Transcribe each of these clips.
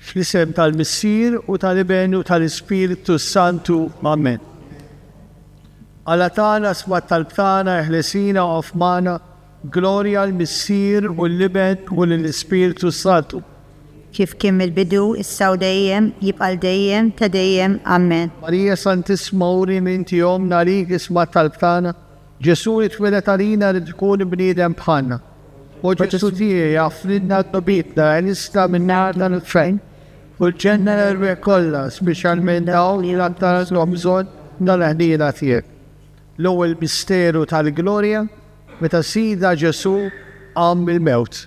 Fl-isem tal-Missier u tal-Iben u tal-Ispirtu s-Santu, amen. Alla tagħna sma' t-talb tagħna, eħlesina u qaf magħna, glorja għall-Missier u l-Iben u lill-Ispirtu s-Santu. Kif kien mill-bidu, issa u dejjem, jibqa' għal dejjem ta' dejjem, amen. Marija Santissma uri min tihomna għalik, isma' t-talb tagħna, Ġesù li tweled għalina ried ikun bniedem bħalna. U Ġesù tiegħi jagħfrilna dnubietna għenistna min-nar tal-infern u l-ġenna l-erwieħ kollha, speċjalment dawk li l-aktar għandhom bżonn tal-ħniena tiegħek. L-ewwel misteru tal-glorja, meta Sidna Ġesù qam mill-mewt.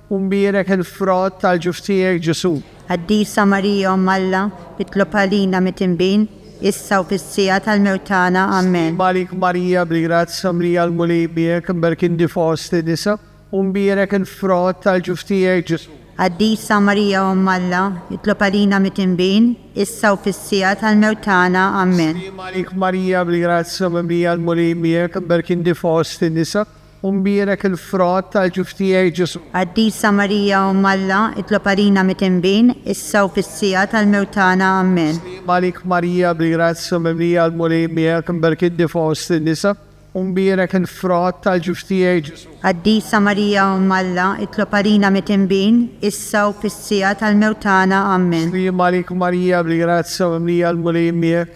U mbierek il-frott tal-ġuf tiegħek, Ġesù. Qaddisa Marija Omm Alla, itlob għalina mit-tinbin, issa u fis-siegħa tal-mewt tagħna. Amen. Sliema għalik Marija, bil-grazzja mlija l-Mulej miegħek, mberk inti fost in-nisa, u mbierek il-frott tal-ġuf tiegħek, Ġesù. Qaddisa Marija Omm Alla, itlob għalina mit-tinbin, issa u fis-siegħa tal-mewt tagħna. Amen. Sliema għalik Marija, bil-grazzja mimlija l-Mulej miegħek, mberk inti fost in-nisa, U mbierek il-frott tal-ġuf tiegħi, Ġesù. Qaddisa Marija Omm Alla, itlob għalina mit-inbin, issa u fis-siegħa tal-mewt tagħna. Ammen. Slim għalik Marija, bil-grazzja mimlija l-Mulej miegħek, imberk inti fost in-nisa, u mbierek il-frott tal-ġuf tiegħi, Ġesù. Qaddisa Marija Omm Alla, itlob għalina mit-inbin, issa u fis-siegħa tal-mewt tagħna. Ammen. Slim għalik Marija, bil-grazzja mimlija l-Mulej miegħek,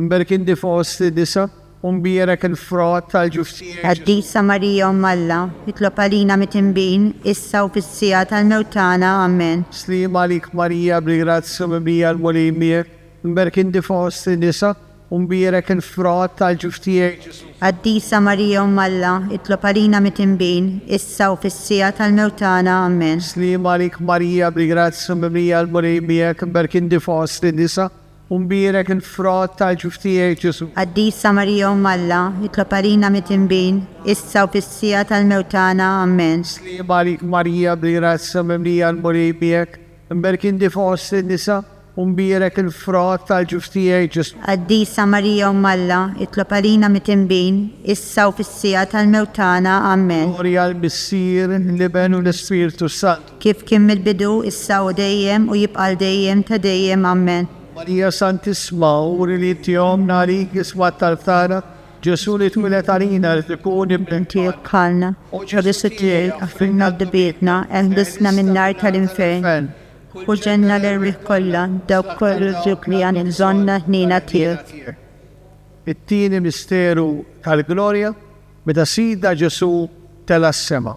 Mberkindi fost in-nisa, u mbierek il-frott tal-ġuf tiegħek, Ġesù. Qaddisa Marija Omm Alla, itlob għalina mit-tinbin, issa u fis-siegħa tal-mewt tagħna. Amen. Sliem għalik Marija, bil-grazzja mimlija l-Mulej miegħek, mberkindi fost in-nisa, u mbierek il-frott tal-ġuf tiegħek, Ġesù. Qaddisa Marija Omm Alla, itlob għalina mit-tinbin, issa u fis-siegħa tal-mewt tagħna. Amen. Sliem għalik Marija, bil-grazzja mimlija l-Mulej miegħek, mberkindi fost in-nisa, U mbierek il-frott tal-ġuf tiegħi, Ġesù. Qaddisa Marija Omm Alla, itlob għalina mit-tinbin, issa u fis-siegħa tal-mewt tagħna. Ammen. Sliema għalik Marija bl-grazzja mimlija l-Mulej miegħek, imberk inti fost in-nisa, u mbierek il-frott tal-ġuf tiegħi, Ġesù. Qaddisa Marija Omm Alla, itlob għalina mit-tinbin, issa u fis-siegħa tal-mewt tagħna. Ammen. Glorja l-Missier, l-Iben u l-Ispirtu s-Santu. Kif kien mill-bidu, issa u dejjem, u jibqa' għal dejjem ta' dejjem. Ammen. Marija Santissma, uri li inti omm, għalik isma' t-talb tagħna. Ġesù li twieled għalina irid ikun Ibn Tiegħek bħalna. O Ġesù tiegħi, aħfrilna dbietna, eħlisna min-nar tal-infern, u ġenna l-erwieħ kollha, dawk kollha li għandhom bżonn l-ħniena tiegħek. It-tieni misteru tal-glorja, meta Sidna Ġesù tela' s-sema.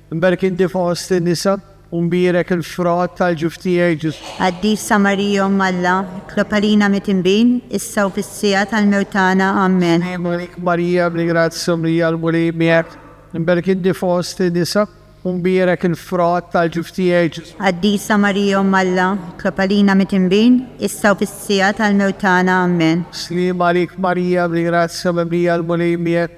Imberek inti fost in-nisa, u mbierek il-frott tal-ġuf tiegħi, Ġesù. Qaddisa Marija Omm Alla, itlob għalina mit-tinbin, issa u fis-siegħa tal-mewt tagħna. Ammen. Slim għalik Marija, mli grazzja, mlija l-Mulej miegħek, imberek inti fost in-nisa, u mbierek il-frott tal-ġuf tiegħi, Ġesù. Qaddisa Marija Omm Alla, itlob għalina mit-tinbin, issa u fis-siegħa tal-mewt tagħna. Ammen. Slim għalik Marija, mli grazzja, mimlija l-Mulej miegħek,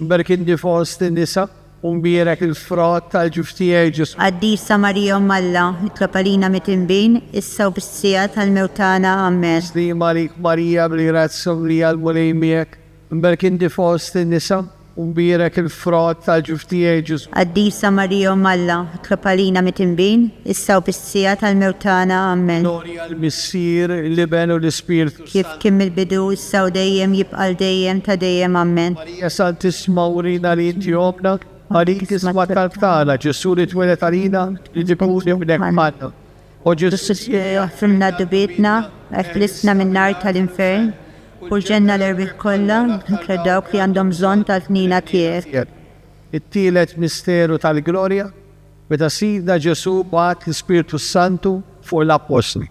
Mberk inti fost in-nisa, u mbierek il-frott tal-ġuf tiegħi, Ġesù. Qaddisa Marija Omm Alla, itlob għalina mit-tinbin, issa u bis-siegħa tal-mewt tagħna. Ammen. Sliema għalik Marija, bil-grazzja mimlija l-Mulej miegħek, mberk inti fost in-nisa, u mbierek il-frott tal-ġuf tiegħi, Ġesù. Qaddisa Marija Omm Alla, itlob għalina mit-tinbin, issa u bis-siegħa tal-mewt tagħna. Ammen. Glorja għall-Missier, l-Iben u l-Ispirtu. Kif kien mill-bidu, issa u dejjem, jibqa' għal dejjem ta' dejjem. Ammen. Marija Santissma urina li inti ommna, għalik tisma' t-talb tagħna, Ġesù li tweled għalina li jkun ibnek f'ħanna. O Ġesù Signore aħfrilna dubietna, eħlisna min-nar tal-infern, porġenna l-erwieħ kollha, inkluż dawk li għandhom bżonn tal-ħniena tiegħek. It-tielet misteru tal-glorja, meta Sidna Ġesù bagħat l-Ispirtu s-Santu fuq l-Appostli.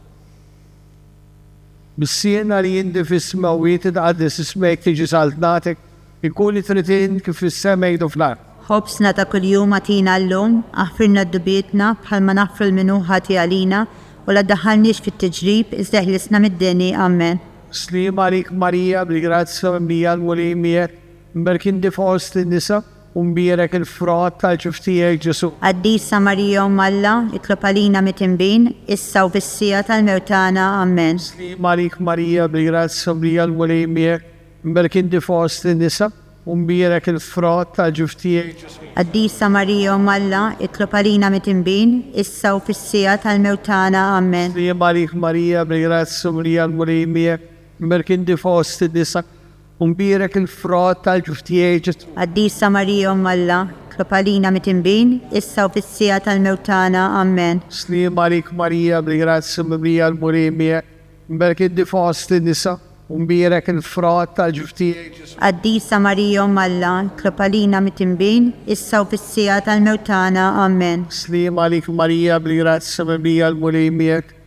Missiena li inti fis-sma u jitqaddes ismek tiġi saltnatek, ikun itrid int kif fis-sema jdu fl-art. Ħobżna ta' kuljum agħtina llum, aħfirna d-dubitna bħalma naħfru l-min hu ħati għalina, u la ddaħħalniex fit-tiġrib, iżda eħlisna mid-deni. Amen. Sliema għalik Marija, bil-grazzja mimlija l-Mulej miegħek, mberkinti fost in-nisa, U mbierek il-frott tal-ġuf tiegħek, Ġesù. Qaddisa Marija Omm Alla, itlob għalina mit-tinbin, issa u fis-siegħa tal-mewt tagħna. Ammen. Slim għalik Marija, bil-grazzja mimlija l-Mulej miegħek, mberk inti fost in-nisa, u mbierek il-frott tal-ġuf tiegħek, Ġesù. Qaddisa Marija Omm Alla, itlob għalina mit-tinbin, issa u fis-siegħa tal-mewt tagħna. Ammen. Slim għalik Marija, bil-grazzja mimlija l-Mulej miegħek, mberk inti fost in-nisa, U mbierek il-frott tal-ġuftijiet Ġesù. Qaddisa Marija Omm Alla, tlob għalina mit-tinbin, issa u fis-siegħa tal-mewt tagħna. Ammen. Sliem għalik Marija, bil-grazzja mimlija l-Mulej miegħek, mbierek inti fost in-nisa, u mbierek il-frott tal-ġuftijiet Ġesù. Qaddisa Marija Omm Alla, tlob għalina mit-tinbin, issa u fis-siegħa tal-mewt tagħna. Ammen. Sliem għalik Marija, bil-grazzja mimlija l-Mulej miegħek,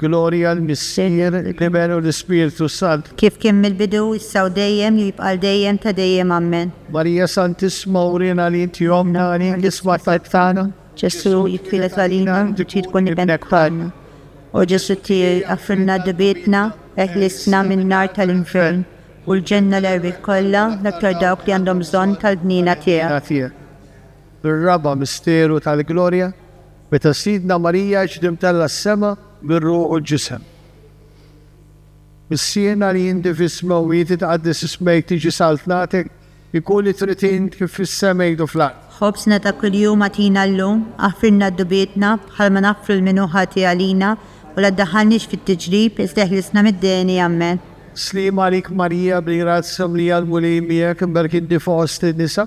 Glorja l-Missier, l-Iben u l-Ispirtu s-Sant. Kif kien mill-bidu, issa u dejjem, li jibqa' għal dejjem ta' dejjem. Ammen. Marija Santissma urina li inti ommna għalik isma' t-talb tagħna. Ġesù jitwieled għalina u trid tkun Ibnek bħalna. O Ġesù tiegħi, aghfirlna d-dbietna, eħlisna min-nar tal-infern u l-ġenna l-erwieħ kollha, l-aktar dawk li għandhom bżonn tal-ħniena tiegħek. bir-raba' misteru tal-glorja, meta Sidna Marija ġiet imtellgħa s-sema bir-ruħ u l-ġisem. Missierna li inti fis-smewwiet jitqaddes ismek tiġi saltnatek, ikun li trid int kif fis-sema jgħidu fl-art. Ħobżna ta' kuljum agħtina llum, aħfrilna d-dubietna bħalma naħfru lil min hu ħati għalina, u la ddaħħalniex fit-tiġrib, iżda eħlisna mid-deni. Ammen. Sliema għalik Marija bil-grazzja mlija l-Mulej miegħek, imbarka inti fost in-nisa.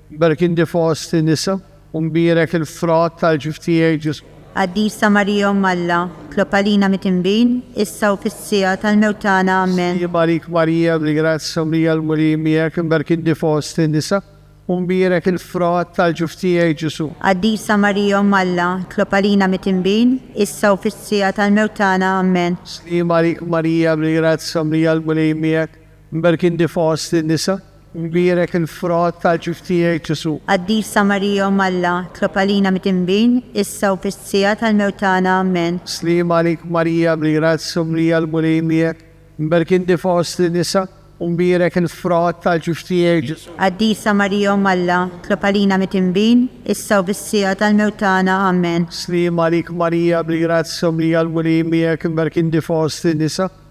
Berkin di fost in-nisa, u mbierek il-frott tal-ġuf tiegħi, Ġesù. Qaddisa Marija Omm Alla, tlob għalina mit-tinbin, issa u fis-siegħa tal-mewt tagħna. Ammen. Jibgħalik Marija, mli grazzja, mlija l-Mulej miegħek, berkin di fost in-nisa, u mbierek il-frott tal-ġuf tiegħi, Ġesù. Qaddisa Marija Omm Alla, tlob għalina mit-tinbin, issa u fis-siegħa tal-mewt tagħna. Ammen. Sliema għalik Marija, mli grazzja, mlija l-Mulej miegħek, Mberkindi fost in-nisa, mbierek il-frott tal-ġuf tiegħi, Ġesù. Qaddisa Marija Omm Alla, tlob għalina midinbin, issa u fis-siegħa tal-mewt tagħna. Ammen. Sliem għalik Marija, bil-grazzja u mlija l-Mulej miegħek, mberkindi fost in-nisa, u mbierek il-frott tal-ġuf tiegħi, Ġesù. Qaddisa Marija Omm Alla, tlob għalina midinbin, issa u fis-siegħa tal-mewt tagħna. Ammen. Sliem għalik Marija, bil-grazzja u mlija l-Mulej miegħek, mberkindi fost in-nisa,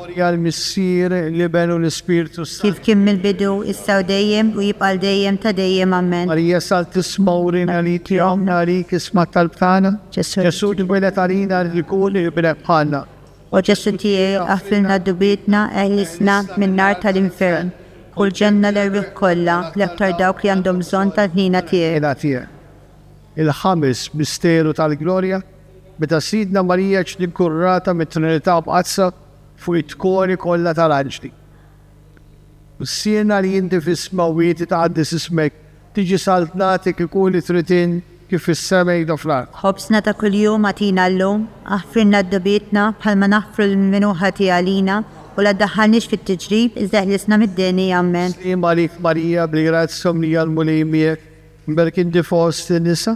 Glorja l-Missier, l-Iben u l-Ispirtu s-Santu. Kif kien mill-bidu, issa u dejjem, u jibqa' għal dejjem ta' dejjem. Amen. Marija Santissma urina għalik li għomna għalik isma' t-talb tagħna. Ġesù li tweled għalina rrid ikun ibnek bħalna. O Ġesù tiegħi, aħfrilna dubietna, eħlisna min-nar tal-infern, u lġenna l-erwieħ kollha, l-aktar dawk li għandhom bżonn tal-ħniena tiegħek. Il-Ħames Misteru tal-Glorja. Meta Sidna Marija ġiet inkurunata mit-Trinità Mqaddsa fuq it-tkoni kollha tal-anġli, Missiena li inti f'isma u inti tqaddes ismek, tiġi Saltna agħtik ikun li trid int kif fis-sema hekk hu fl-art. Ħobżna ta' kuljum agħtina llum. Aħfrilna d-dubietna bħalma naħfru lil min hu ħati għalina, u la ddaħħalniex fit-tiġrib, iżda ħlisna mid-deni. Ammen. Slim għalik Marija, bil-grazzja mimlija l-Mulej miegħek, mberkinti fost in-nisa,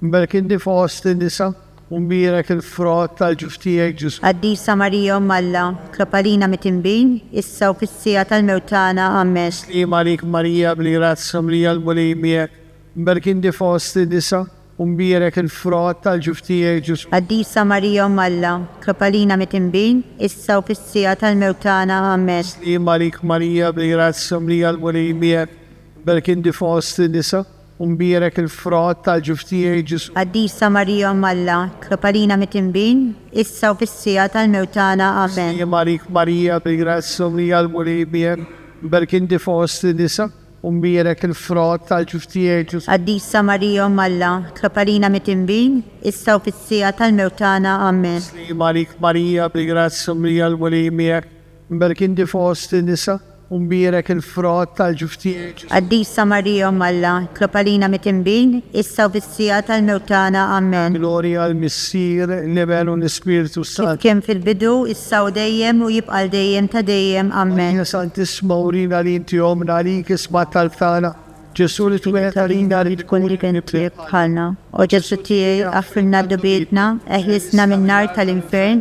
Mberek inti fost in-nisa, u mbierek il-frott tal-ġuf tiegħek, Ġesù. Qaddisa Marija Omm Alla, tlob għalina mit-tinbin, issa u fis-siegħa tal-mewt tagħna. Ammen. Sliema għalik Marija, bil-grazzja mlija l-Mulej miegħek, mberek inti fost in-nisa, u mbierek il-frott tal-ġuf tiegħek, Ġesù. Qaddisa Marija Omm Alla, tlob għalina mit-tinbin, issa u fis-siegħa tal-mewt tagħna. Ammen. Sliema għalik Marija, bil-grazzja mlija l-Mulej miegħek, mberek inti fost in-nisa, U mbierek il-frott tal-ġuf tiegħi, Ġesù. Qaddisa Marija Omm Alla, tlob għalina mit-tinbin, issa u fis-siegħa tal-mewt tagħna. Amen. Msliema għalik Marija, bil-grazzja u mlija l-Mulej miegħek, mberk inti fost in-nisa, u mbierek il-frott tal-ġuf tiegħi, Ġesù. Qaddisa Marija Omm Alla, tlob għalina mit-tinbin, issa u fis-siegħa tal-mewt tagħna. Amen. Msliema għalik Marija, bil-grazzja u mlija l-Mulej miegħek, Mberkindi fost in-nisa, u mbierek il-frott tal-ġuf tiegħi, Ġesù. Qaddisa Marija Omm Alla, itlob għalina mitinbin, issa u fis-siegħa tal-mewt tagħna. Amen. Glorja għall-Missier, l-Iben, u l-Ispirtu s-Santu. Kif kien fil-bidu, issa u dejjem, u jibqa' għal dejjem ta' dejjem. Amen. Marija Santissima, urina li inti Ommna, għalik isma' t-talb tagħna. Ġesù li twieled għalina, rrid ikun li kien twieled bħalna. O Ġesù tiegħi, aħfrilna d-dnubietna, eħlisna min-nar tal-infern,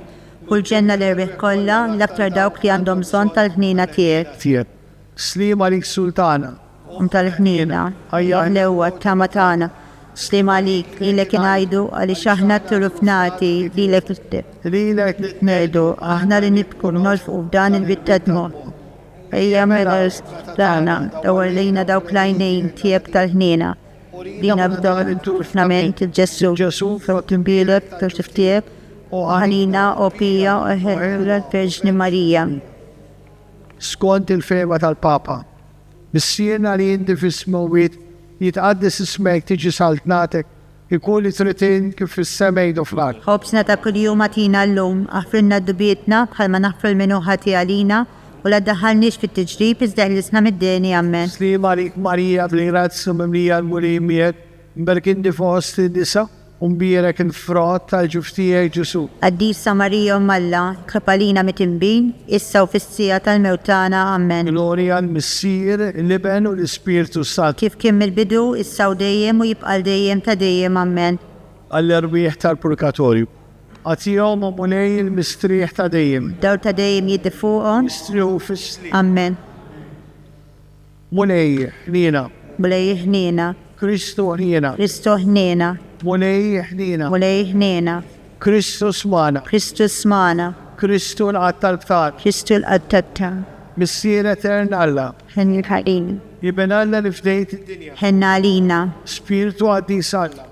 U l-ġenna l-erwieħ kollha, l-aktar dawk li għandhom bżonn tal-ħniena tiegħek. Tiegħek. Sliem għalik Sultana. Omm tal-ħniena. Ajja l-qewwa, t-tama tagħna. Sliem għalik, lilek ingħidu, għaliex aħna tturufnati, lilek li. Lilek li tnegħdu, aħna li nibku, nolfqu f'dan il-bied tad-dmugħ. Ejja mela l-isqfa tagħna, dawwar lejna dawk l-għajnejn tiegħek tal-ħniena. Urina b'dawn it-turfnament, Ġesù. Ġesù, f'dawk il-bielek, f'dawk il-ftiegħek. O Anina, O Pia, O Hercula, L-Verġni Marija. Skont il-fehma tal-Papa, bis-siena li inti fis-smewwiet jitqaddes ismek, tiġi saltnatek, ikun li trid int kif fis-sema jdu fl-art. Ħobżna ta' kuljum agħtina llum. Aħfrilna d-dbietna bħalma naħfru l-minnu ħati għalina, u la ddaħħalniex fit-tiġrib, iżda ħlisna mid-deni. Ammen. Sliem għalik Marija, bil-grazzja mimlija l-Mulej miegħek, Mberk inti fost in-nisa, u mbierek il-frott tal-ġuf tiegħek, Ġesù. Qaddisa Marija Omm Alla, itlob għalina mit-tinbin, issa u fis-siegħa tal-mewt tagħna. Ammen. Glorja għall-Missier, l-Iben u l-Ispirtu s-Santu. Kif kien mill-bidu, issa u dejjem, u jibqa' l-dejjem ta' dejjem. Ammen. Għall-erwieħ tal-purgatorju. Agħtihom, O Mulej, il-mistrieħ ta' dejjem. Dawl ta' dejjem jiddi fuqhom. Jistrieħu fis-sliem. Ammen. Mulej, ħniena. Mulej, ħniena. Kristu, ħniena. Kristu, ħniena. Mulej, ħniena. Mulej, ħniena. Kristu, smana. Kristu, smana. Kristu, l-Qatt tal-Btan. Kristu, l-Qatt tat-Tan. Missier Etern Alla. Ħenn għalina. Iben Alla li fdejt id-dinja. Ħenn għalina. Spirtu qaddis Alla.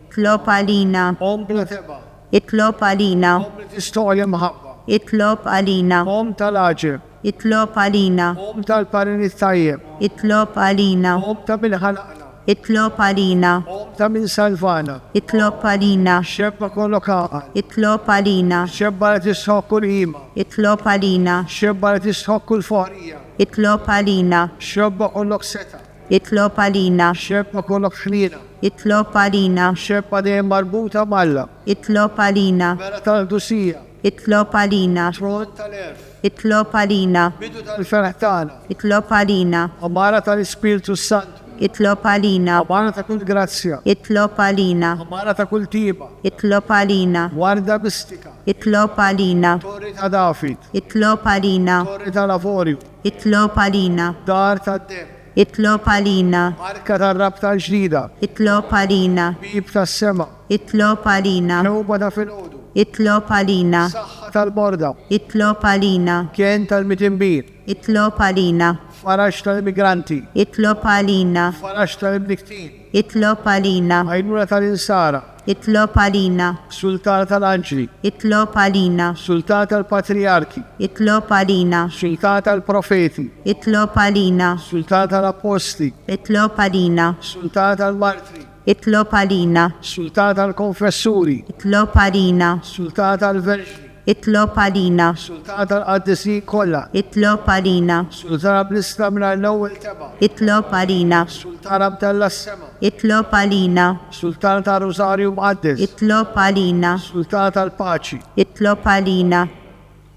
Itlob għalina. Omm bla tebgħa. Itlob għalina. Omm li tistogħol imħabba. Itlob għalina. Omm tal-għaġeb. Itlob għalina. Omm tal-parir it-tajjeb. Itlob għalina. Omm ta' min ħalaqna. Itlob għalina. Omm ta' min salvana. Itlob għalina. Xebba kollok għaqal. Itlob għalina. Xebba li tistħoqq kull qima. Itlob għalina. Xebba li tistħoqq kull foqrija. Itlob għalina. Xebba kollok setgħa. Itlob għalina. Xebba kollha f'ħniena. Itlob għalina. Xebba dejjem marbuta m'Alla. Itlob għalina. Mera tal-qdusija. Itlob għalina. Tron tal-għerf. Itlob għalina. Bidu tal-ferħ tagħna. Itlob għalina. Għamara tal-Ispirtu s-Santu. Itlob għalina. Għamara ta' kull grazzja. Itlob għalina. Għamara ta' kull tieba. Itlob għalina. Warda mistika. Itlob għalina. Torri ta' David. Itlob għalina. Torri tal-avorju. Itlob għalina. Dar tad-demm. Itlob għalina. Arka tar-rabta l-ġdida. Itlob għalina. Bieb tas-sema. Itlob għalina. Tewba ta' filgħodu. Itlob għalina. Saħħa tal-morda. Itlob għalina. Kenn tal-midinbin. Itlob għalina. Faraġ tal-immigranti. Itlob għalina. Faraġ tal-imnikktin. Itlob għalina. Għajnuna tal-insara. Itlob għalina. Sultan tal-anġli. Itlob għalina. Sultan tal-patrijarki. Itlob għalina. Sultan tal-profeti. Itlob għalina. Sultan tal-appostli. Itlob għalina. Sultan tal-martri. Itlob għalina. Sultan tal-konfessuri. Itlob għalina. Sultan tal-verġni. Itlob għalina. Is-Sultan tal-Qaddisin kollha. Itlob għalina. Is-Sultan Abdlista mingħajr l-ewwel tebgħa. Itlob għalina. Is-Sultan Abdalla s-Sema. Itlob għalina. Is-Sultan tar-Rużarju Mqaddes. Itlob għalina. Is-Sultan tal-Paċi. Itlob għalina.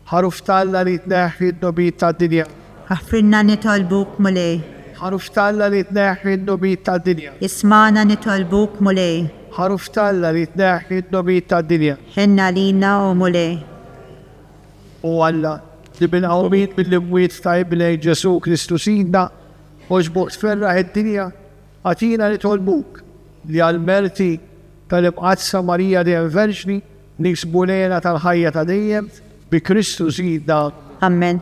Ħaruf t'Alla li tneħħi d-dnubiet tad-dinja. Aħfrilna nitolbuk, Mulej. Ħaruf t'Alla li tneħħi d-dnubiet tad-dinja. Ismagħna nitolbuk, Mulej. Ħaruf t'Alla li tneħħi d-dnubiet tad-dinja. Ħenn għalina, O Mulej! O Alla, li bil-qawmien mill-imwiet ta' Ibnek Ġesù Kristu Sidna, oġbor tferraħ id-dinja, agħtina nitolbuk li għall-merti tal-Imqaddsa Marija Dejjem Verġni niksbu l-hena tal-ħajja ta' dejjem, bi Kristu Sidna. Ammen.